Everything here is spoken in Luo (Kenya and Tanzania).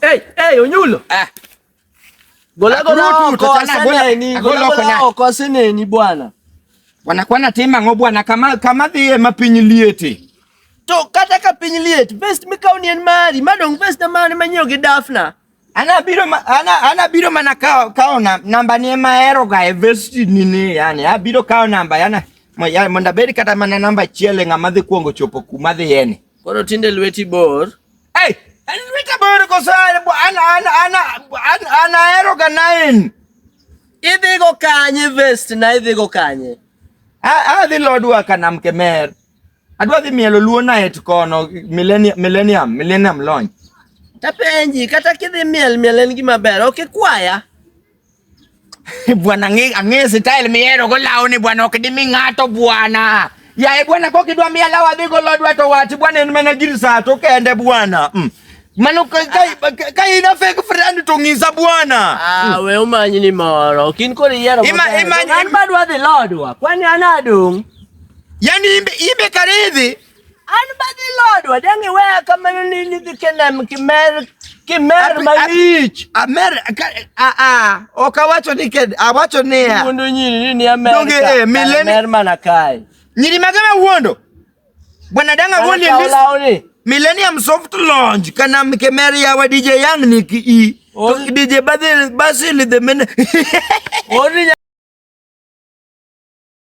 Hey, hey, Onyulo. Ah. Gola gola oko sene ni bwana. Wanakuwa na tema ngo bwana kama kama dhiye mapinyi liete. To kata ka piny liet vest mikaw nien mari madong vest na mane manyiewo gi dafna Ana biro ma, ana ana biro mana kao kao na, namba ni ema ero ga investi ni ni yani a biro kao namba yana mo ya monda beri kata mana namba chiele ngama dhi kuongo chopo kuma dhi yene. Koro tinde lweti bor. Hey, an lweta bor ko sa ana ana ana ana ana ero ga nine. Idhi go kanye vest na idhi go kanye. A a dhi lodwa kana mkemer. Adwa dhi mielo luo night kono millennium millennium millennium launch. Tapenji kata kidhi miel miel en gima ber. Ok ikwaya. Bwana ng'e ang'e style mihero go lawo ni bwana ok dimi ng'ato bwana. Yaye bwana kok idwa miya lawo adhi go lodwa to wachi bwana en mana gir saa to kende bwana. Mm. Mano ka ka- ka- ka ina fake friend to ng'isa bwana. Ah, we umanyi ni moro. Kin kori yero. Ima- ima- An badwa dhi lodwa. Kwani anadong. Yaani imbe imbe karidhi. An ba dhi lodwa dang' iweya kamano ni nidhi kenem kimer kimer malich. Amer a a ok awacho ni ked awacho ni ya. Wuondo nyiri ni amer. Donge eh mileni. Amer mana kai. Nyiri magama wuondo. Bwana danga wuondi ndis. Millennium soft launch kana mkemer ya wa DJ Young ni ki i. DJ Basil Basil the men.